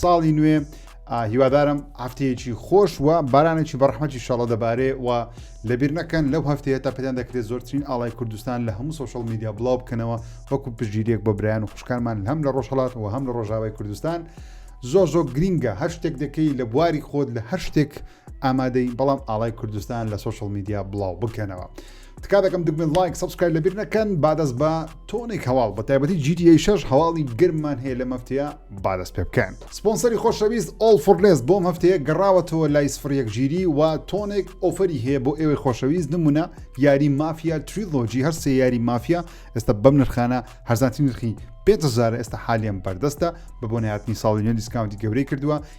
ساڵی نوێ هیوادارم هەفتەیەکی خۆش و بارانێکی بەڕحمەتی شەڵە دەبارێ و لەبیر نەکەن لەو هەفتەیە تا پێدان دەکرێت زۆرترین ئاڵای کوردستان لە هەموو سوۆشل میدیا بڵاو بکەنەوە وەکو پژگیرێک بۆ برایان و خوشکانمان هەم لە ڕۆژهڵات و هەم لە ڕۆژاوای کوردستان زۆر زۆر گرینگە هەر شتێک دەکەی لە بواری خۆت لە هەر شتێک ئامادەی بەڵام ئاڵای کوردستان لە سوۆشل میدیا بڵاو بکەنەوە تکا دەکەم دکمن لایک سبسکرای لەبیر نەکەن بادەست بە تۆنێک هەواڵ بە تایبەتی جیدی شش هەواڵی گرمان هەیە لە مەفتەیە بادەست پێ بکەن سپۆنسەری خۆشەویست ئۆڵ فورنێست بۆم هەفتەیە گەڕاوەتەوە لای سفرەک ژیری و تۆنێک ئۆفری هەیە بۆ ئێوەی خۆشەویست نمونە یاری مافیا تریلۆجی هەر سێ یاری مافیا ئێستا بەم نرخانە هەرزانتی نرخی پێزار ئێستا حالیان بەردەستە بە بۆنیاتنی ساڵی نوێ دیسکاونتی گەورەی کردووە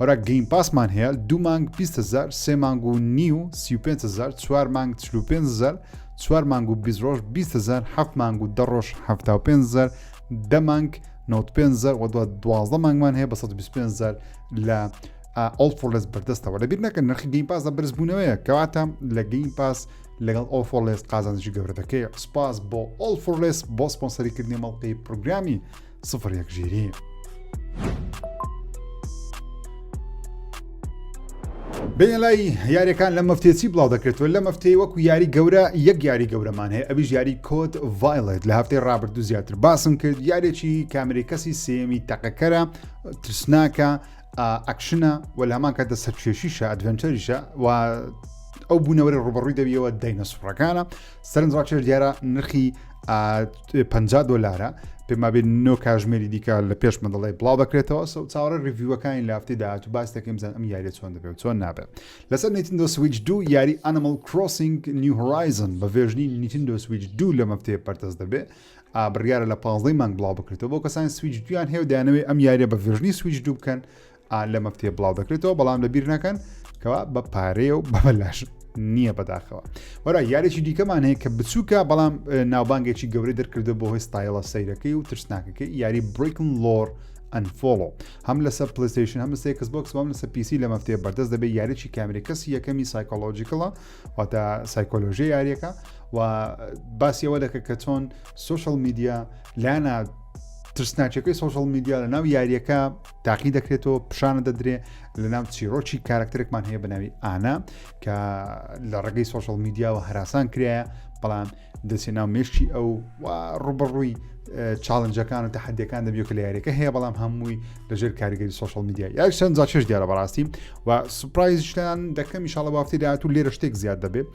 وەرە گەیم پاسمان هەیە دوو مانگ 20 هزار سێ مانگ و نیو 35 هزار چوار مانگ 45 هزار چوار مانگ و 20 ڕۆژ 20 هزار هەفت مانگ و دە ڕۆژ 75 هزار دە مانگ 95 هزار و دو دوازدە مانگمان هەیە بە 125 هزار لە ئەڵ فۆلس بەردەستەوە لە بیر نەکە نرخی گەیم پاس لە بەرزبوونەوەیە کەواتە لە گەیم پاس لەگەڵ ئەڵ فۆلس قازانجی گەورەتەکەی سپاس بۆ ئەڵ فۆلس بۆ سپۆنسەریکردنی مەڵقی پروگرامی سفر یەک ژیری. بێن لای یاریەکان لە مەفتێسی بڵاو دەکرێتەوە لە مەفتەی وەکو یاری گەورە یەک یاری گەورەمان هەیە ئەویش یاری کۆت ڤایلێت لە هەفتەی ڕابردوو زیاتر باسم کرد یارێکی کامری کەسی سێمی تەقەکەرە ترسناکە ئەکشنە و لە هەمان کاتە سەرچێشیشە ئەدڤنچەریشە و ئەو بوونەوەری ڕوبڕووی دەویەوە دەینە سوڕەکانە سەرنج ڕاکێش دیارە نرخی پ دلارە پێمابێت نۆ کاژمێری دیکە لە پێش مندڵی بڵاو دەکرێتەوە سە چاوەڕێ ریڤیوەکانی لافتی داات و باس دەکەم زان ئەم یاریە چۆن دەبێت و چۆن نابێت لەسەر نیتن دۆ سویچ دوو یاری ئەنمل کرۆسنگ نیو هۆرایزن بە ڤێژنی نیتن دۆ سویچ دوو لە مەفتەیە پەرتەس دەبێت ئابریارە لە پازدەی مانگ بڵاو بکرێتەوە بۆ کەسانی سویچ دویان هەیە دانەوەی ئەم یاریە بە ڤێژنی سویچ دوو بکەن لە مەفتێ بڵاو دەکرێتەوە بەڵام لە بیر نەکەن کەوا بە پارەیە و بەبلاش نییە بەداخەوە وەرا یاریی دیکەمان هەیە کە بچووکە بەڵام ناوبانگێکی گەورەی دەرکردە بۆ هۆی ستایلە سەیرەکەی و ترسناکەکە یاری بریکن لۆر ئەنفۆڵۆ هەم لەسەر پلیستیشن هەم سێکس بۆکس بەم لەسەر پیسی لە مەفتێ بەردەست دەبێت یاریی کامری کەسی یەکەمی سایکۆلۆژیکڵە واتە سایکۆلۆژی یاریەکە و باسیەوە دەکە کە چۆن سوشل میدیا لانا ترسناچەکەی سوشل میدیا لە ناو یاریەکە تاقی دەکرێتەوە پیشانە دەدرێ لە ناو چیرۆکی کارکتەرێکمان هەیە بە ناوی ئانا کە لە ڕێگەی سۆشل میدیاوە هەراسان کرایە بەڵام دەچێت ناو مێشکی ئەو ڕوبڕووی چاڵنجەکان و تەحدەکان دەبیێت کە لە یاریەکە هەیە بەڵام هەمووی لەژێر کاریگەری سوۆشال میدیا یا چەند جاچێش دیارە بەڕاستی و سوپایزشتان دەکەم شڵە وافتی داات و لێرە شتێک زیاد دەبێت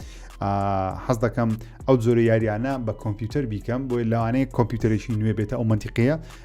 حەز دەکەم ئەو جۆرە یاریانە بە کۆمپیوتەر بیکەم بۆی لەوانەیە کۆمپیوتەرێکی نوێ بێتە ئەو منتیقەیە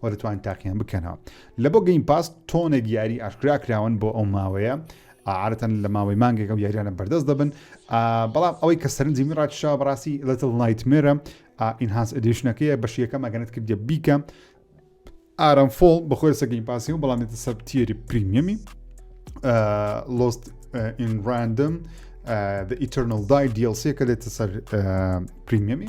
وە دەتوانن تاقیان بکەنەوە. لە بۆ گەیم پاس تۆنێک یاری ئاشکرا کراون بۆ ئەو ماوەیە عادەتەن لە ماوەی مانگێک ئەو یاریانە بەردەست دەبن بەڵام ئەوەی کە سەرنجی من ڕاتشا بەڕاستی لەتڵ نایتمێرە ئینهانس ئەدیشنەکەیە بەش یەکەم ئەگەنت کردە بیکە ئارام فۆڵ بەخۆی سەگەین پاسی و بەڵام دێتە سەر تیری پریمیەمی لۆست ئینڕاندم The Eternal Die DLC کە دێتە سەر پریمیەمی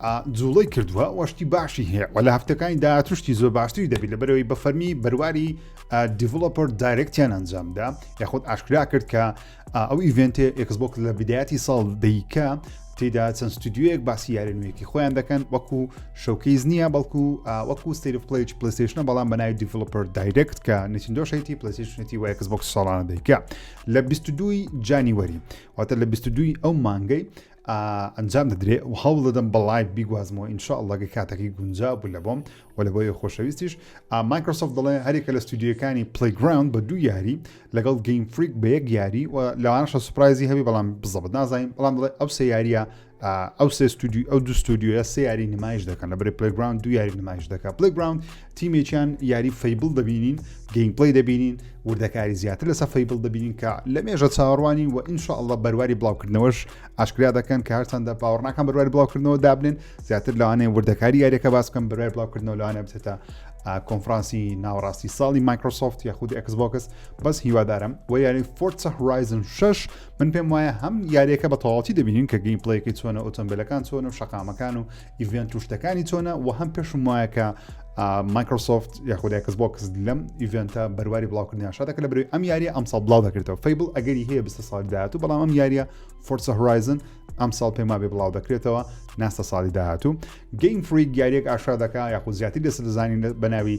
ئا جوڵەی کردوە وە شتی باشی هەیە وە لە هەفتەکانی داهاتوو شتی زۆر باشتری دەبیت لە بەرەوەی بە فەرمی بەرواری دیڤڵۆپەر دایرکتیان ئەنجامدا یاخود ئاشکرا کرد کە ئەو ئیڤێنتێ ئێکسبۆک لە بدایەتی ساڵ دەیکە تێدا چەند ستودیوەیەک باسی یارە نوێکی خۆیان دەکەن وەکو شەوکەیز نییە بەڵکو وەکو ستیری پلیج پلیسیشنە بەڵام بەناوی دیڤلوپەر دایرکت کە نچندۆشێتی پلیسیشنێتی وایە کەس بۆک ساڵانە دەیکە لە 22 جانیوەری واتە لە 22 ئەو مانگەی ئەنجام دەدرێ و هەوڵ دەدەم بە لایڤ بیگوازمەوە ان شاء اللە گە کاتەکەی گونجاو بوو لە بۆم و لە بۆی خۆشەویستیش مایکرۆسۆفت دەڵێ هەرێکە لە ستودیوەکانی پلیگراوند بە دوو یاری لەگەڵ گەیم فریک بە یەک یاری و لەوانەشە سوپرایزی هەبی بەڵام بزەبت نازانین بەڵام دەڵێ ئەو سێ یاریە ئەو سێ ستودیو ئەو دو ستودیوە سێ یاری نمایش دەکەن لە بری پلیگراوند دو یاری نمایش دەکە پلیگراوند تیمێکیان یاری فەیبڵ دەبینین گەیمپڵی دەبینین وردەکاری زیاتر لەسە فەیبڵ دەبینین کە لە مێژە چاوەڕوانی و ئینشاء اللە بەرواری بڵاوکردنەوەش ئاشکرا دەکەن کە هەرچەندە باوەڕناکان بەرواری بڵاوکردنەوە دابنێن زیاتر لەوانەیە وردەکاری یاریەکە باس بکەم بەروای بڵاوکردنەوە لەوانە بچێتە کۆنفرانسی ناوەڕاستی ساڵی مایکرۆسۆفت یاخود ئەکسبۆکس بەس هیوادارم و یاری فۆرسە هورایزن 6 من پێم وایە هەم یاریەکە بە تەواتی دەبینین کە گەیم پلەیەکەی چۆنە ئۆتۆمبیلەکان چۆن و شقامەکان و ئیڤێنت و شتەکانی چۆنە و هەم پێشم وایە کە مایکرۆسۆفت یاخود ئەکس بۆکس لەم ئیڤێنتە بەرواری بڵاوکردنیان شاتەکە لە بروی ئەم یاریە ئەمساڵ بڵاو دەکرێتەوە فیبل ئەگەری هەیە بستە ساڵ داهات و بەڵام ئەم یاریە فۆرسە هورایزن ئەم ساڵ پێما بێ بڵاو دەکرێتەوە ناستە ساڵی داهاتوو گەیم فریک یاریەک ئاشا دەکە یاخود زیاتری دەست دەزانین بەناوی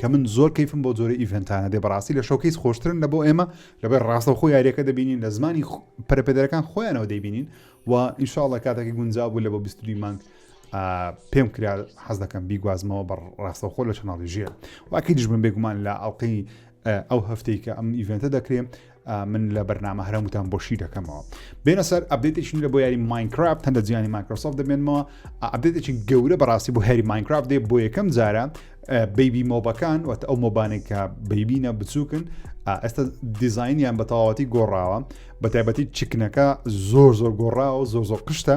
کە من زۆر کەیفم بەو جۆرە ئیڤنتانە دێ بەڕاستی لە شۆکەیس خۆشترن لە بۆ ئێمە لەبەر ڕاستەوخۆ یاریەکە دەبینین لە زمانی پەرپێدەرەکان خۆیانەوە دەبینین و ئینشاءڵە کاتێکی گونجا بوو لە بۆ 22 مانگ پێم کرا حەز دەکەم بیگوازمەوە بە ڕاستەخۆ لە چناڵی ژێ واکەی دژبم بێگومان لە ئەڵلقەی ئەو هەفتەی کە ئەم ئیڤنتە دەکرێن من لە بەرنامە هەرەموتان بۆشی دەکەمەوە بێنە سەر ئەبدێتێکی نورە بۆ یاری ماینکرافت هەندە جیانی مایکرۆسۆف دەبێنمەوە ئەبدێتێکی گەورە بەڕاستی بۆ هەری ماینکرافت دێ بۆ یەکەم جارە بیبی مۆبەکان وەت ئەو مۆبانێک کە بیبینە بچووکن ئێستا دیزینیان بە تەواوەتی گۆڕاوە بە تایبەتی چکنەکە زۆر زۆر گۆڕاوە زۆر زۆر قشتە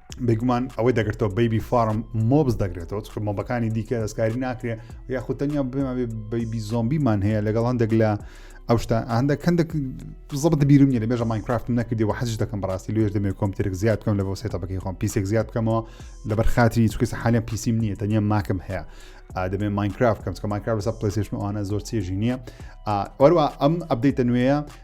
بێگومان ئەوەی دەگرێتەوە بەیبی فارم مۆبز دەگرێتەوە چ مۆبەکانی دیکە دەستکاری ناکرێ یاخود تەنیا بێمە بەیبی زۆمبیمان هەیە لەگەڵ هەندێک لە ئەو شتا هەندە کەندێک زەبت بیرم نیە لە بێژە ماینکرافت نەکردی و حەج دەکەم بەڕاستی لێش دەمێ کۆمپتێک زیاد بکەم لە بۆ سێتەبەکەی خۆم پیسێک زیاد بکەمەوە لەبەر خاتری چکەس حالیان پیسیم نییە تەنیا ماکم هەیە دەبێ ماینکرافت کەم چکە ماینکرافت لەسەر پلیسشمەوانە زۆر چێژی نییە وەروە ئەم ئەبدەیتە نوێیە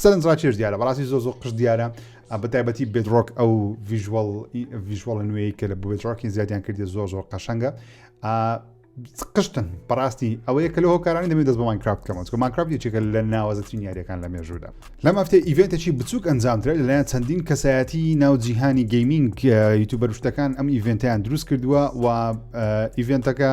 سەرنج ڕاکێش دیارە بەڕاستی زۆ زۆ قشت دیارە بە تایبەتی بێدرۆک ئەو ڤژوەڵ ڤژوەڵ نوێی کە لە بێدرۆکی زیادیان کردی زۆ زۆر قەشەنگە قشتن بەڕاستی ئەوەیە کە لە هۆکارانی دەبێت دەست بەمان کراب کەمەوە کەمان کراب یەکێکە لە ناوەزترین یاریەکان لە مێژوودا لەم هەفتێ ئیڤێنتێکی بچووک ئەنجامدرێت لەلایەن چەندین کەسایەتی ناو جیهانی گەیمینگ یوتوبەرشتەکان ئەم ئیڤێنتیان دروست کردووە و ئیڤێنتەکە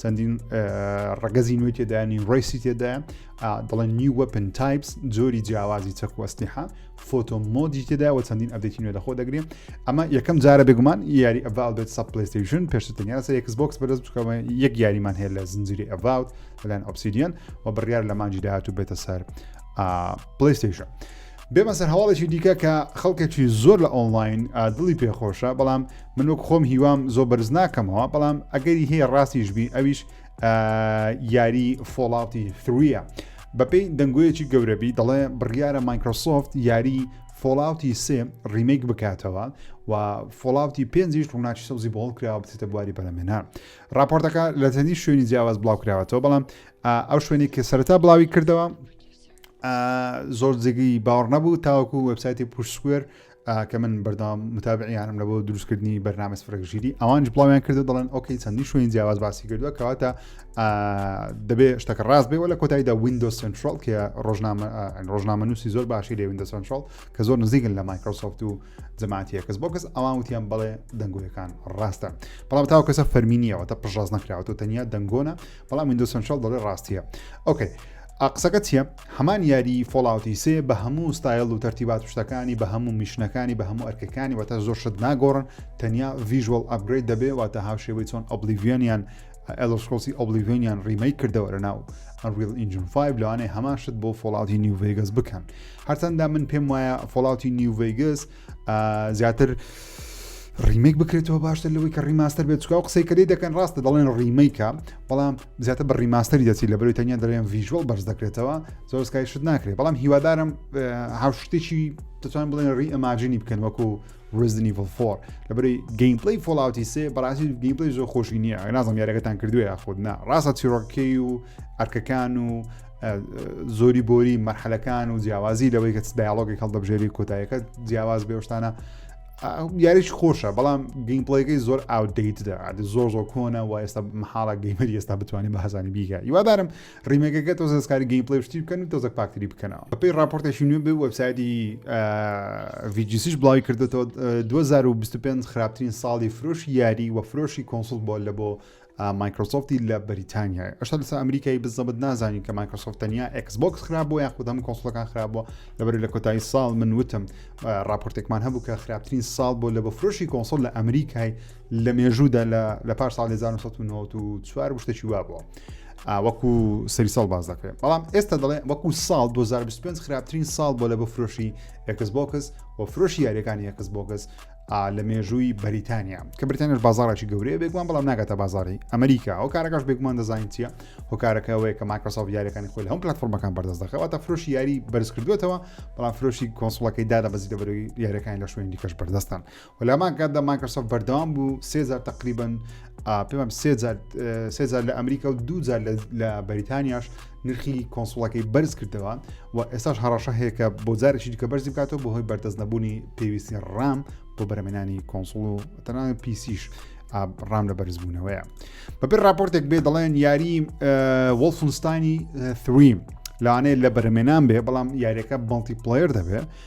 چەندین ڕگەزی نوێی تێدانی ڕیسی تێدا دەڵێن نیو وەپن تایپس جۆری جیاوازی چەکوەستیحا فۆتۆ مۆدی تێدا و چەندین ئەبێتی نوێ لەخۆ دەگرێن ئەمە یەکەم جارە بێگومان یاری ئەڤال بێت سە پلیستیشن پێشتر تەنیا سەر یکس بۆکس بەدەست بکەوە یەک یاریمان هەیە لە زنجیری ئەڤاوت لەلایەن ئۆپسیدیان و بڕیار لە مانجی داهات و بێتە سەر پلیستیشن. بێمە سەر هەواڵێکی دیکە کە خەڵکێکی زۆر لە ئۆنلاین دڵی پێخۆشە بەڵام من وەک خۆم هیوام زۆ بەرز ناکەمەوە بەڵام ئەگەری هەیە ڕاستیش بی ئەویش یاری فۆڵاتی ثرویە بەپێی دەنگۆیەکی گەورەبی دەڵێ بڕیارە مایکرۆسۆفت یاری فۆڵاوتی سێ ڕیمێک بکاتەوە و فۆڵاوتی پێنجیش ڕووناچی سەوزی بۆڵ کراوە بچێتە بواری بەرەمێنە راپۆرتەکە لە چەندی شوێنی جیاواز بڵاو کراوەتەوە بەڵام ئەو شوێنێک کە سەرتا بڵاوی کردەوە زۆر جێگی باوەڕ نەبوو تاوەکو وبسایتی پوشسکوێر کە من بەردام متابعیانم لە بۆ دروستکردنی بەرنامە فرەژیری ئەوانش بڵاویان کردو دەڵێن ئۆکەی چەندی شوێن جیاواز باسی کردووە کەواتە دەبێ شتەکە ڕاست بێ لە کۆتاییدا وینندۆ سنترال کە ڕۆژنامە ڕۆژنامە نووسی زۆر باشی لێ وینندۆ سنترال کە زۆر نزیکن لە مایکرۆسۆفت و جەماعتیە کەس بۆ کەس ئەوان وتیان بڵێ دەنگۆیەکان ڕاستە بەڵام تاو کەسە فەرمینیەوە تا پشڕاز نەخراوەوە تەنیا دەنگۆنە بەڵام ویندۆز سەنتراڵ دەڵێ ڕاستیە ئۆکەی ئا قسەکە چییە هەمان یاری فۆڵاوتی سێ بە هەموو ستایل و تەرتیبات شتەکانی بە هەموو میشنەکانی بە هەموو ئەرکەکانی واتە زۆر شت ناگۆڕن تەنیا ڤیژوەڵ ئەپگرید دەبێ واتە هاوشێوەی چۆن ئۆبلیڤیۆنیان ئەلسکۆسی ئۆبلیڤۆنیان ڕیمەی کردەوە لە ناو ئەنریل ئینجن 5 لەوانەیە هەمان شت بۆ فۆڵاوتی نیوڤگەس بکەن هەرچەندە من پێم وایە فۆڵاوتی نیوڤگەس زیاتر ڕیمەک بکرێتەوە باشتر لەوەی کە ڕیماستەر بێت چکاو قسەی کردی دەکەن ڕاستە دەڵێن ڕیمەیکە بەڵام زیاتر بە ڕیماستەری دەچی لە بەروی تەنیا دەڵێن ڤژوەڵ بەرز دەکرێتەوە زۆر سکای شت ناکرێت بەڵام هیوادارم هاوشتێکی دەتوان بڵێن ڕی ئەماجنی بکەن وەکو ڕزنی ڤڵفۆر لە بەری گەیمپلی فۆڵاوتی سێ بەڕاستی گەیمپلی زۆر خۆشی نییە نازم یارەکەتان کردووە یاخود نا ڕاستە چیڕۆکەی و ئەرکەکان و زۆری بۆری مەرحەلەکان و جیاوازی لەوەی کە دایالۆگی هەڵدەبژێری کۆتایەکە جیاواز بێشتانە یاریش خۆشە بەڵام گەیمپڵەکەی زۆر ئاودەیتدا زۆر زۆر کۆنە و ئێستا محاڵە گەیمەر ئێستا بتوانانی بە هەزانی بیگە یوادارم ڕیمێکەکە تۆ زەستکاری گەیمپلی شتی بکەن و تۆزەک پاکتری بکەنەوە بەپی راپۆرتێکی نوێ بێ وەبسایدی ڤجیسیش بڵاوی کردێتەوە 2025 خراپترین ساڵی فرۆشی یاری و فرۆشی کۆنسڵ بۆ لە بۆ مایکرۆسۆفتی لە بەریتانیایە ئەشتا لەسا ئەمریکایی بزەبت نازانین کە مایکرۆسۆفت تەنیا ئەکسبکس خراپ بۆ یاخود هەم کۆسلەکان خراپ بۆ لەبەر لە کۆتایی ساڵ من وتم راپۆرتێکمان هەبوو کە خراپترین ساڵ بۆ لە بەفرۆشی کۆنسۆل لە ئەمریکای لە مێژوودا لە پار ساڵ 1994 بشتێکی وا بووە. وەکو سەری ساڵ باز دەکرێت بەڵام ئێستا دەڵێ وەکو ساڵ 2025 خراپترین ساڵ بۆ لە بەفرۆشی ئەکسبکس و فرۆشی یاریەکانی ئەکسبکس لە مێژووی بەریتانیا کە بریتانش بازارێکی گەورەیە بێگومان بەڵام ناگاتە بازاری ئەمریکا ئەو کارەکەش بێگومان دەزانین چیە هۆکارەکەەوەی کە ماکرۆسۆف یاریەکانی خۆی هەم پلتفۆرمەکان بەردەست دەخەوە تا فرۆشی یاری بەرز کردوێتەوە بەڵام فرۆشی کۆنسڵەکەی دادە بەزی دەبەرەوەی یارەکان لە شوێن دیکەش بەردەستن و لامان کاتدا ماکرۆسۆف بەردەوام بوو سێزار تقریبن پێم سێزار لە ئەمریکا و دوجار لە بەریتانیاش نرخی کۆنسوڵەکەی بەرز کردەوە و ئێستاش هەڕەشە هەیە کە بۆ جارێکی دیکە بەرزی بکاتەوە بۆ هۆی بەردەست نەبوونی پێویستی ڕام بۆ بەرەمێنانی کۆنسڵ و تەنان پیسیش ڕام لە بەرزبوونەوەیە بەبێ راپۆرتێک بێ دەڵێن یاری وەڵفنستانی ثریم لەوانەیە لە بەرەمێنان بێ بەڵام یاریەکە بڵتی پلیر دەبێت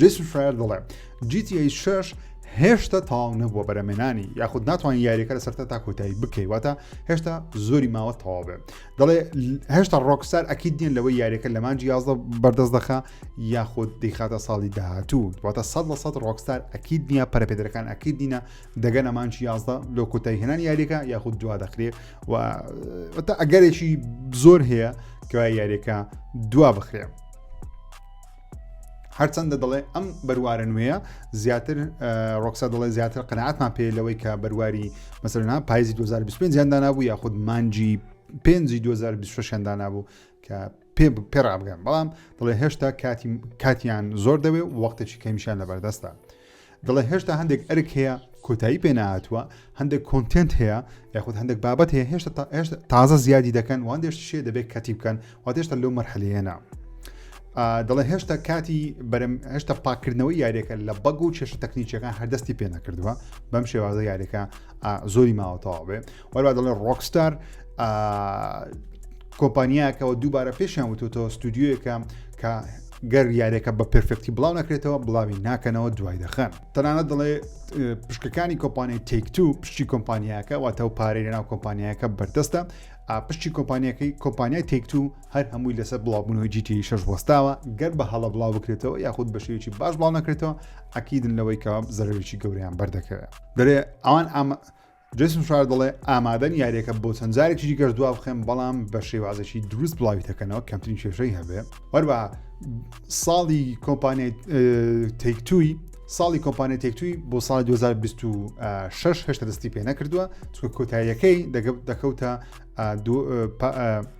جیسن شایر دەڵێ GTA 6 هێشتا تاو نەبووە بەرەمێنانی یاخود ناتوانین یاریەکە لە سەرتا تا کۆتایی بکەی واتە هێشتا زۆری ماوە تەواو بێ دەڵێ هێشتا ڕۆکسار ئەکیید دیێن لەوەی یاریەکە لە مانجی یازدە بەردەست دەخە یاخود دیخاتە ساڵی داهاتوو واتە سە لە سە ڕۆکسار ئەکیید نییە پەرپێدرەکان ئەکیید دینە دەگەن ئەمانجی یازدە لۆ کۆتایی هێنان یاریەکە یاخود دوا دەخرێ و ئەگەرێکی زۆر هەیە کە یاریەکە دوا بخرێ. هەرچەندە دەڵێ ئەم بەروارە نوێیە زیاتر ڕۆکسا دەڵێ زیاتر قەنەعاتمان پێ لەوەی کە بەرواری مەسەرنا پایزی 2025 زیاندانا بوو یاخود مانجی پێنجی 2026 دانا بوو کە پێ پێڕابگەن بەڵام دەڵێ هێشتا کاتی کاتیان زۆر دەوێ وەختێکی کەمیشان لەبەردەستە دەڵێ هێشتا هەندێک ئەرک هەیە کۆتایی پێ نهاتووە هەندێک کۆنتنت هەیە یاخود هەندێک بابەت هەیە هێشتا هێشتا تازە زیادی دەکەن وان دێشت شێ دەبێت کەتی بکەن و هێشتا لەو مەرحلەیەنا دەڵێ هێشتا کاتی بەرم هێشتا پاکردنەوەی یاریەکە لە بەگ و چێشە تەکنیچەکان هەردەستی پێ نەکردووە بەم شێوازە یاریەکە زۆری ماوەتەواوێ وەروا دەڵێن ڕۆکستار کۆمپانیاکەەوە دووبارە پێشیان وتوتەوە ستودیویەکە کە گەر یاریەکە بە پرفێکتی بڵاو نەکرێتەوە بڵاوی ناکەنەوە دوای دەخەن تەنانە دەڵێ پشکەکانی کۆمپانیای تێکتو پشتی کۆمپانیاکە واتە و پارەی ناو کۆمپانیاکە بەردەستە پشتی کۆمپانیەکەی کۆمپانیای تێکتو هەر هەمووی لەسەر بڵاوبوونەوەی جیتی شش وەستاوە گەر بە هەڵە بڵاو بکرێتەوە یاخود بەشێکی باش بڵاو نەکرێتەوە ئەکیدن لەوەی کە زەرەوێکی گەوریان بەردەکەوێت دەرێ ئەوان ئەمە جەیسن فرایر دەڵێ، ئامادەم یارییەکە بۆ چەند جارێکی دیکەش دوابخەم، بەڵام بە شێوازێکی دروست بڵاوی دەکەنەوە کەمترین کێشەی هەبێ. هەروەها ساڵی کۆمپانیای تەیک تووی ساڵی کۆمپانیای تەیک تووی بۆ ساڵی 2026 هێشتا دەستی پێ نەکردووە، چونکە کۆتاییەکەی دەکەوتە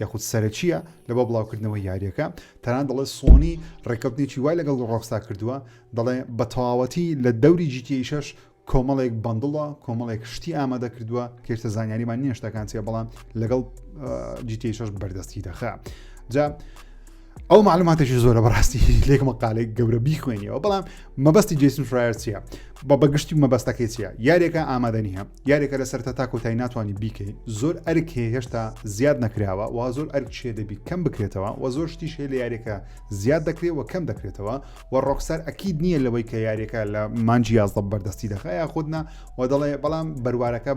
یاخود سەرەکییە لە بۆ بڵاوکردنەوەی یارییەکە، تەنانەت دەڵێت سۆنی ڕێککەوتنێکی وای لەگەڵ ڕۆکستار کردووە، دەڵێ بە تەواوەتی لە دەوری جی تی ئەی شەش کۆمەڵێک بەندڵە کۆمەڵێک شتی ئامادە کردووە کێشتە زانیاریمان نیە شتەکان چیە بەڵام لەگەڵ جی تی ئەی شەش بەردەستی دەخە جا ئەو معلوماتێکی زۆرە بەڕاستی لێک مەقالێک گەورە بیخوێنیەوە بەڵام مەبەستی جیسن فرایەر چیە بە بەگشتی مەبەستەکەی چیە یارێکە ئامادە نییە یارێکە لەسەر تا تاکۆتای ناتوانانی بیکەین زۆر ئەرک هەیە هێشتا زیاد نەکراوە و زۆر ئەرک شێ دەبی کەم بکرێتەوە و زۆر شتیش هەیە لە یارێکە زیاد دەکرێت و کەم دەکرێتەوە وە ڕۆکسار ئەکید نییە لەوەی کە یاریەکە لە مانجی یازدە بەردەستی دەخە یاخودنا و دەڵێ بەڵام بەروارەکە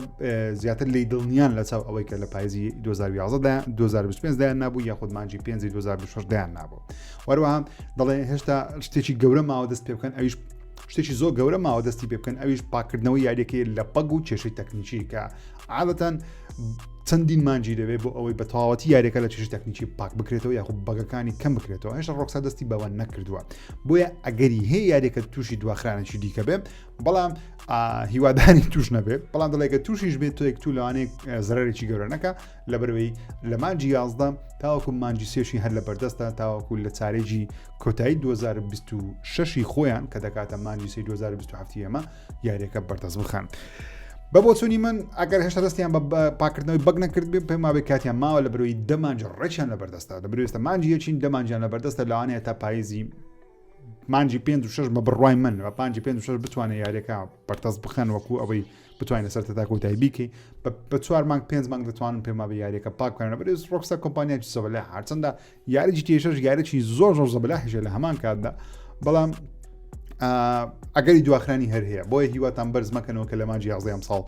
زیاتر لی دڵنیان لە چاو ئەوەی کە لە پایزی 2025 دایان نبوو یاخود مانجی 5 2026 دایان نبوو وەروەها دەڵێ هێشتا شتێکی گەورە ماوە دەست پێ بکەن ئەویش شتێکی زۆر گەورە ماوە دەستی پێ بکەن ئەویش پاکردنەوەی یاریەکەی لە پەگ و کێشەی تەکنیکی کە عادەتەن چەندین مانجی دەوێت بۆ ئەوەی بە تەواوەتی یاریەکە لە چش تەکنیکی پاک بکرێتەوە یاخود بەگەکانی کەم بکرێتەوە هێشتا ڕۆکسا دەستی بەوە نەکردووە بۆیە ئەگەری هەیە یاریەکە تووشی دواخرانێکی دیکە بێت بەڵام هیوادانی توش نەبێت بەڵام دەڵێکە تووشیش بێت تۆ یەکتو لەوانەیە زەرێکی گەورە نەکە لە بەرەوەی لە مانجی یازدە تاوەکو مانجی سێشی هەر لە بەردەستە تاوەکو لە چارێکی کۆتایی 2026 خۆیان کە دەکاتە مانجی سی 2027 ئەمە یاریەکە بەردەست بخەن. بە بۆچوونی من ئەگەر هێشتا دەستیان بە پاکردنەوەی بەگ نەکرد بێ پێماوەی کاتیان ماوە لە برۆی دەمانج ڕێکیان لە بەردەستا لە برێستە مانجی یەچین دەمانجیان لە بەردەستە لەوانەیە تا پاییزی مانجی پێ شش بە بڕای من و پنجی پێ شش بتوانێت یاریەکە پەرتەست بخەن وەکو ئەوەی بتوانین لەسەر تا کۆتایی بیکەی بە چوار مانگ پێنج مانگ دەتوانن پێما بە یاریەکە پاککەن بەێز ڕۆکسە کۆمپانیای سەبلە هەرچەندە یاریی GTA 6 یاریی زۆر زۆر زەبلاحیشە لە هەمان کاتدا بەڵام ئەگەری دواخرانی هەر هەیە بۆیە هیواتان بەرز مەکەنەوە کە لە ماجی یازدەم ساڵ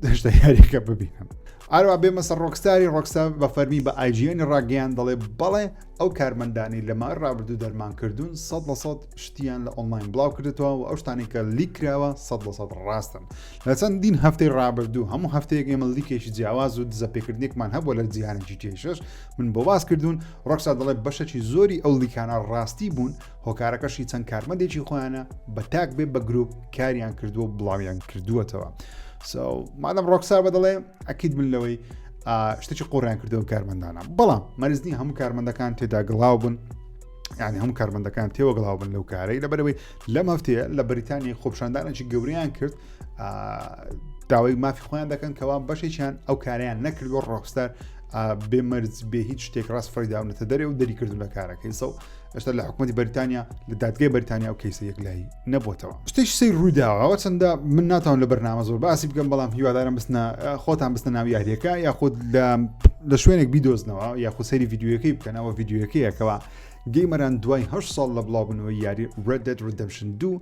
دەشتە یاریەکە ببینم ئاروا بێ مەسەر ڕۆکستاری ڕۆکستا بە فەرمی بە ئایجیێنی ڕاگەیان دەڵێ بەڵێ ئەو کارمەندانی لەما ڕابردوو دەرمان کردوون سە لە سە شتیان لە ئۆنلاین بڵاو کردێتەوە و ئەو شتانی کە لیک کراوە سە لە سە ڕاستن لە چەند دین هەفتەی ڕابردوو هەموو هەفتەیەک ئێمە لیکێکی جیاواز و دزەپێکردنێکمان هەبوو لە جیهانە جیتیشش من بۆ باس کردوون ڕۆکسا دەڵێ بەشەکی زۆری ئەو لیکانە ڕاستی بوون هۆکارەکەشی چەند کارمەندێکی خۆیانە بە تاک بێ بە گروپ کاریان کردووە و بڵاویان کردووەتەوە مادەم ڕۆکسا بە دەڵێ ئەکییت من لەوەی شتێکی قۆڕیان کردەوە کارمەندانە بەڵام مەرزنی هەموو کارمەندەکان تێدا گڵاو بوون یعنی هەموو کارمەندەکان تێوەگڵاو بن لەو کارەی لەبەرەوەی لەم هەفتەیە لە بەریتانی خۆپشاندانێکی گەوریان کرد داوای مافی خۆیان دەکەن کەوا بەشێکیان ئەو کاریان نەکردوە ڕۆکستەر بێ مەرج بێ هیچ شتێک ڕاست فڕی داونەتە دەرێ و دەری کردو لە کارەکەیسە و ئەشتا لە حکوومەتتی بەریتانیا لە دادگای بەریتانیا و کەیسە یەکلایی نەبووتەوە شتێک سی ڕووداوەوە چەندە من ناتان لە بەرنامە زۆر باسی بکەم بەڵام هیوادارم بستە خۆتان بستە ناو یاریەکە یاخود لە لە شوێنێک بیدۆزنەوە یاخو سەری یددیوەکەی بکەنەوە یددیوەکەیەکەوە گەیمەران دوای هە ساڵ لە بڵاوبنەوەی یاری Red Dead Redemption 2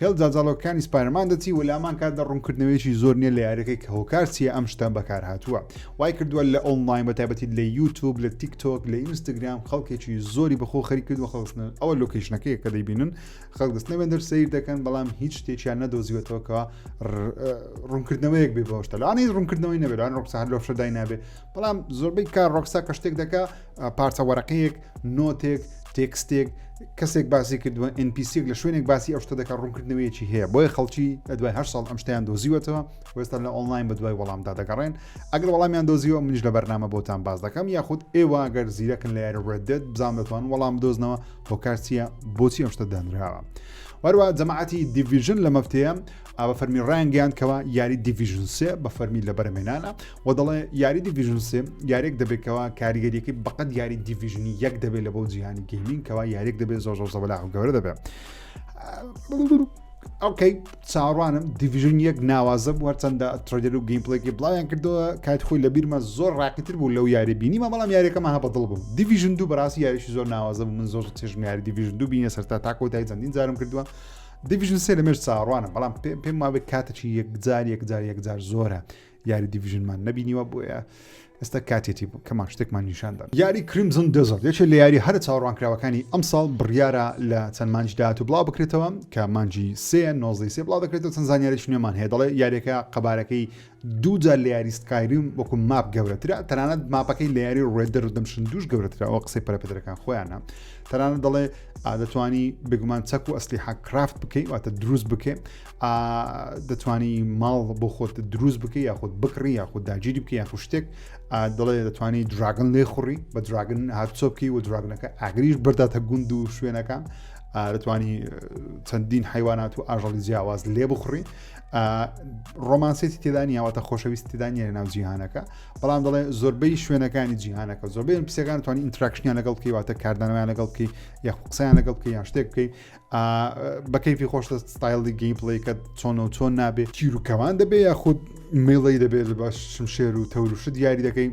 هێڵ جاجاڵۆکەکانی سپایرمان دەچی و لامان کاتدا ڕوونکردنەوەیەکی زۆر نییە لە یارەکەی کە هۆکار چییە ئەم شتە بەکارهاتووە وای کردووە لە ئۆنلاین بە تایبەتی لە یوتوب لە تیک تۆک لە ئینستاگرام خەڵکێکی زۆری بەخۆ خەری کرد و خەڵستن ئەوە لۆکیشنەکەی کە دەیبینن خەڵک دەستنە بێندەر سیر دەکەن بەڵام هیچ شتێکیان نەدۆزیوەتەوەکەوە ڕوونکردنەوەیەک بێ بەشتەلانی ڕوونکردنەوەی نەبێران ڕۆکسان لۆفشە داینابێ بەڵام زۆربەی کار ڕۆکسا کە شتێک دەکە پارچە وەرەقەیەک، نۆتێک، تێکستێک، کەسێک باسی کردووە NPCێک لە شوێنێک باسی ئەو شتە دەکە ڕوونکردنەوەیەکی هەیە بۆیە خەڵکی لە دوای هەر ساڵ ئەم شتیان دۆزیوەتەوە وێستا لە ئۆنلاین بە دوای وەڵامدا دەگەڕێن ئەگەر وەڵامیان دۆزیەوە منیش لە بەرنامە بۆتان باز دەکەم یاخود ئێوە گەر زیرەکن لە یاری ڕێدێت بزان دەتوان وەڵام دۆزنەوە هۆکارچیە بۆچی ئەم شتە دانراوە وەروە جەماعەتی دیڤژن لە مەفتەیە ئاڤا فەرمی ڕایانگەیاند کەوا یاری دیڤژن سێ بە فەرمی لە بەرەمێنانە و دەڵێ یاری دیڤژن سێ یاریێک دەبێتەوە کاریگەریەکەی بەقەت یاری دیڤژنی یەک دەبێت لە بۆ جیهانی گەیمین کەوا یاریێک دەبێت زۆ زۆر زەبلا گەورە دەبێت ئەوکەی چاڕوانم دیڤژن یەک ناوازە بووە چەندە ترۆدر و گەیمپلێکی بڵاویان کردەوە کات خۆی لە بیرمە زۆر ڕاقیتر بوو لەو یاری بینی مە بەڵام یاریەکەمە هە بەدڵ بوو دیڤژن دوو بەڕاستی یاریشی زۆر ناوازە بوو من زۆر چێژم یاری دیڤژن دوو بینە سەرتا تاکۆتای چەندین جارم کردووە دیڤیژن سێ لەمێژ چاوەڕوانم بەڵام پێ پێم وابێت کاتێکی یەکجار یەکجار یەکجار زۆرە یاری دیڤژنمان نبینیوە بۆیە ئێستا کاتێتی بوو کەمان شتێکمان نیشاندا یاری کریمزن دەزڵ یەکێ لە یاری هەرە چاوەڕوانکراوەکانی ئەم ساڵ بڕیارە لە چەند مانج داات و بڵاو بکرێتەوە کە مانجی سێ نۆزی سێ بڵاو دەکرێتەوە چەند زانیاریش نوێمان هەیە دەڵێ یاریەکە قەبارەکەی دوو جار لە یاری سکایریم وەکو ماپ گەورەترە تەنانەت ماپەکەی لە یاری ڕێدە ڕدەمشن دوش گەورەترە ئەو قسەی پەرەپدرەکان خۆیانە تەنانە دەڵێ دەتوانی بگومان چەک و ئەسلی حق کرافت بکەیت واتە دروست بکەێ دەتوانی ماڵ بۆ خۆت دروست بکە یاخود بکڕی یاخود داگیری بکە یاخو شتێک دەڵێ دەتوانی دراگن لێ خوڕی بە دراگن هەرچۆ بکەی و دراگنەکە ئاگریش برداتە گوند و شوێنەکان دەتوانی چەندین حیوانات و ئاژەڵی جیاواز لێ بخڕی ڕۆمانسێتی تێدا نیاوەتە خۆشەویست تێدا نیە لە ناو جیهانەکە بەڵام دەڵێ زۆربەی شوێنەکانی جیهانەکە زۆربەی پسەکان توانانی ئینتراکشنیان لەگەڵ بکەی واتە کاردانەوەیان لەگەڵ بکەی یا قسەیان لەگەڵ بکەی یان شتێک بکەی بەکەیفی خۆشتە ستایلی گەیم پڵیکە چۆن و چۆن نابێت تیروکەوان دەبێ یاخود میڵی دەبێت لە باش شمشێر و تەورشت دیاری دەکەی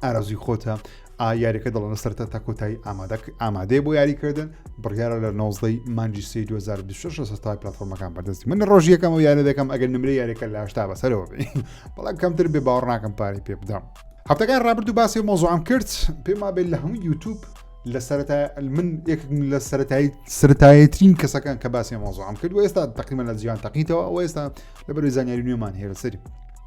ئارازوی خۆتە ئا یاریەکە دڵنە سەرتا تا کۆتایی ئامادەک ئامادەێ بۆ یاریکردن بڕیاە لە نۆزدەی مانجی سی 2026 سەتا پلتفۆرمەکان بەدەست من ڕۆژیەکەم و یارە دەکەم ئەگەر نمرە یاریەکە لە هشتا بەسەرەوە بەڵام کەمتر بێ باوەڕناکەم پارەی پێ بدەم هەفتەکان ڕابرد و باسی مۆزوعام کرد پێم بێت لە هەموو یوتوب لە سەرتا من لە سەتایی سرتایەترین کەسەکان کە باسی مۆزوعام کرد و ئێستا تقریمە لە جیان تەقیتەوە ئەو ئێستا لە بەروی زانیاری نوێمان هێرە سەری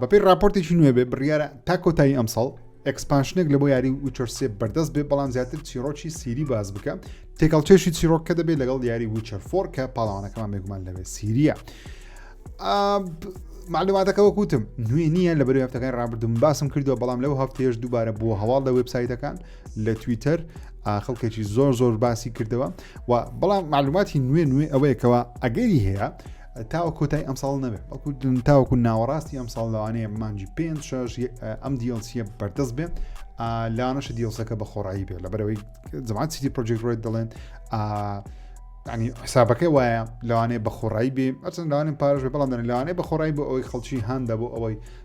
بەپێی راپۆرتێکی نوێ بێ بڕیارە تا کۆتایی ئەمساڵ ئەکسپانشنێک لە بۆ یاری وچەرسێ بەردەست بێ بەڵام زیاتر چیرۆکی سیری باز بکە تێکەڵ چێشی چیرۆک کە دەبێت لەگەڵ یاری وچەر فۆر کە پاڵاوانەکەمان بێگومان لەوێ سیریە معلوماتەکە وەکوتم نوێ نییە لە بەرو هەفتەکان ڕابردوم باسم کردووە بەڵام لەو هەفتێش دووبارە بۆ هەواڵ لە وبسایتەکان لە تویتەر خەڵکێکی زۆر زۆر باسی کردەوە و بەڵام معلوماتی نوێ نوێ ئەوەیەکەوە ئەگەری هەیە تاوە کۆتای ئەمساڵ نەبێت بەڵکو تاوەکو ناوەڕاستی ئەم ساڵ لەوانەیە مانجی پێ شش ئەم دیڵسیە بەردەست بێت لاانەشە دیڵسەکە بە خۆڕایی بێت لە بەرەوەی زمان سیتی پرۆژێک ڕێت دەڵێن ینی حسابەکەی وایە لەوانەیە بە خۆڕایی بێ ئەچەند لاوانێن پارش بەڵام دەن لەوانەیە بە خۆڕایی بۆ ئەوەی خەڵکی هاندا بۆ ئەوەی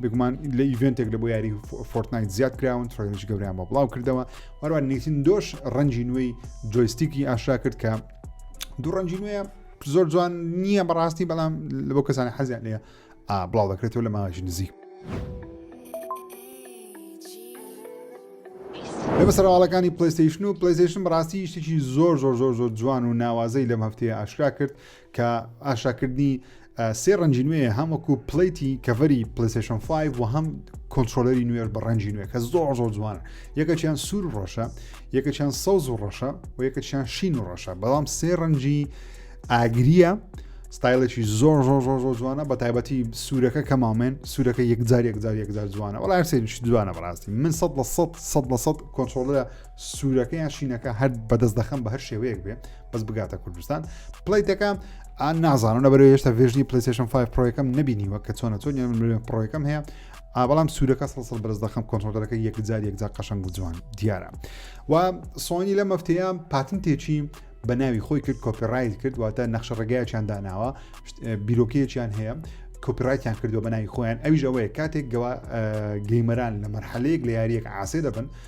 بێگومان لە ئیڤێنتێک لە بۆ یاری فۆرتنایت زیاد کراون تڕێنش گەوریان بە بڵاو کردەوە وەروان نیتن دۆش ڕەنجی نوێی جۆیستیکی ئاشا کرد کە دوو ڕەنجی نوێ زۆر جوان نییە بەڕاستی بەڵام لە بۆ کەسانی حەزیان لێە بڵاو دەکرێتەوە لە ماژی نزیک لەمە سەرواڵەکانی پلیستیشن و پلیستیشن بڕاستی شتێکی زۆر زۆر زۆر زۆر جوان و ناوازەی لەم هەفتەیە ئاشرا کرد کە ئاشاکردنی سێ ڕەنجی نوێ هەم وەکو پلیتی کەڤری پلیسشن 5 و هەم کۆنتترۆلەری نوێر بە ڕەنجی نوێ کە زۆر زۆر جوانە یەکەچیان سوور ڕۆشە یەکەچیان سەوز و ڕەشە و یەکەچیان شین و ڕەشە بەڵام سێ ڕەنجی ئاگریە ستایلێکی زۆر زۆر زۆر زۆر جوانە بە تایبەتی سوورەکە کە مامێن سوورەکە یەکجار یەکجار یەکجار جوانە وڵ سێنش جوانە بەڕاستی من سە لە سە سە لە سە کۆنتترۆلە سوورەکەیان شینەکە هەر بەدەست دەخەم بە هەر شێوەیەک بێ بەس بگاتە کوردستان پلیتەکە ئان نازانم لە بەرەوە هێشتا ڤێژنی پلیسشن 5 پرۆەکەم نبینیوە کە چۆنە چۆن پرۆەکەم هەیە ئابڵام سوورەکە سەسەڵ بەرز دەخم کۆنتۆلەکە یەکجار یەکجار قەشنگ و جوان دیارە و سۆنی لە مەفتەیە پاتن تێچی بە ناوی خۆی کرد کۆپیڕایت کرد واتە نەخشە ڕێگایەکیان داناوە بیرۆکەیەکیان هەیە کۆپیرایتیان کردو بە ناوی خۆیان ئەویش ئەوەیە کاتێک گەوا گەیمەران لە مەرحەلەیەک لە یاریەک عاسێ دەبن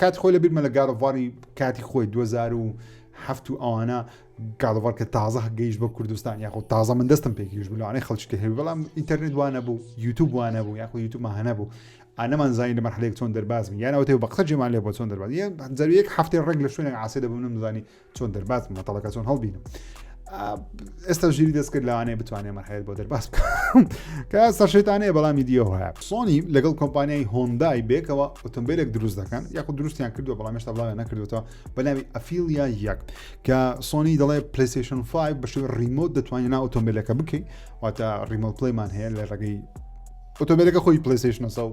کات خۆی لە بیرمە لە گارۆڤاری کاتی خۆی 2007 و ئەوانە گالۆڤار کە تازە هەگەیش بە کوردستان یاخود تازە من دەستم پێکیش بلوانەی خەڵچکە هەیە بەڵام ئینتەرنێت وانە بوو یوتوب وانە بوو یاخود یوتوب هەنە بوو ئەنەمان زانین لە مەحلێک چۆن دەرباز یانەوە تێ بە قسە جێمان لێ بۆ چۆن دەرباز زەوی یەک هەفتەی ڕێک لە شوێنێک عاسی دەبوونم زانی چۆن دەرباز مەتەڵەکە چۆن هەڵبینم ئێستا ژیری دەست کرد لەوانەیە بتوانێت مەحەیت بۆ دەرباز بکەم کە سەرشێتانەیە بەڵامی دیۆ هەیە سۆنی لەگەڵ کۆمپانیای هۆندای بێکەوە ئۆتۆمبیلێک دروست دەکەن یاخود دروستیان کردو بەڵام مێشتا بڵاوێ نەکردوەوە بەناوی ئەفیلیا یەک کە سۆنی دەڵێ پلیسیشن 5 بەشی ریمۆت دەتوانین نا ئۆتۆمبیلەکە بکەین واتە ریمۆت پلیمان هەیە لە ڕێگەی ئۆتۆمبیلەکە خۆی پلیسیشنەسە و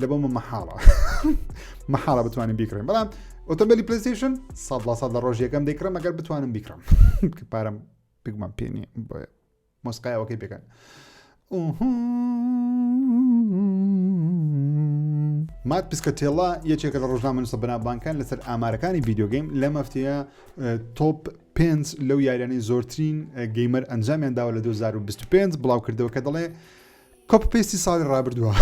لە بۆمە مەحاڵە مەحاڵە بتوانین بیکڕین بەڵام ئۆتۆمبیلی پلیستیشن سە لە سە لە ڕۆژیەکەم دەیکڕم ئەگەر بتوانم بیکڕم پارەم بگومان پێنی بۆیە مۆسقایەوەکەی بگەن مات پسکە تێڵا یەکێکە لە ڕۆژنامە نووسە بەنابانکان لەسەر ئامارەکانی ڤیددیوگەیم لە مەفتەیە تۆپ پێنج لەو یاریانەی زۆرترین گەیمەر ئەنجامیان داوە لە 2025 بڵاوکردەوە کە دەڵێ کۆپی پەیستی ساڵی ڕابردووە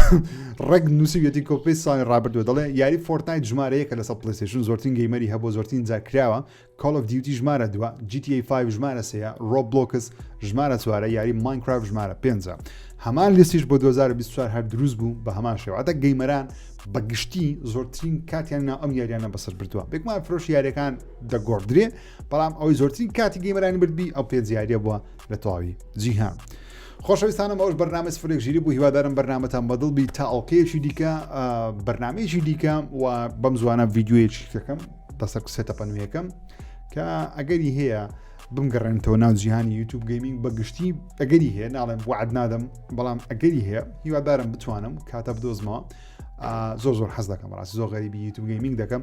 ڕێک نووسیویەتی کۆپی پەیست ساڵی ڕابردووە دەڵێ یاری فۆرتنایت ژمارە یەکە لەسەر پلەیستێشن زۆرترین گەیمەری هەبووە زۆرترین جار کراوە کۆڵ ئۆف دیوتی ژمارە دووە GTA 5 ژمارە سێیە ڕۆبلۆکس ژمارە چوارە یاری ماینکرافت ژمارە پێنجە هەمان لیستیش بۆ 2024 هەر دروست بوو بە هەمان شێواتە گەیمەران بە گشتی زۆرترین کاتیان ناو ئەم یاریانە بەسەر بردووە بێکمان فرۆش یاریەکان دەگۆڕدرێ بەڵام ئەوەی زۆرترین کاتی گەیمەرانی بردبی ئەو پێنج یاریە بووە لە تەواوی جیهان. خۆشەویستانم ئەوش بەرنامە سفرێک ژیری بوو هیوادارم بەرنمەتان بەدڵ بی تا ئەڵلقەیەکی دیکە بەرنمەیەکی دیکە و بەم زوانە ڤیددیوەیەکی کەکەم بەسەر سێتە پەنویەکەم کە ئەگەری هەیە بمگەڕێنتەوە ناو جیهانی یوتوب گەیمینگ بە گشتی ئەگەری هەیە ناڵێم وعد نادەم بەڵام ئەگەری هەیە هیوادارم بتوانم کاتە بدۆزمەوە زۆر زۆر حەز دەکەم ڕاست زۆر غەریبی یوتوب گەیمینگ دەکەم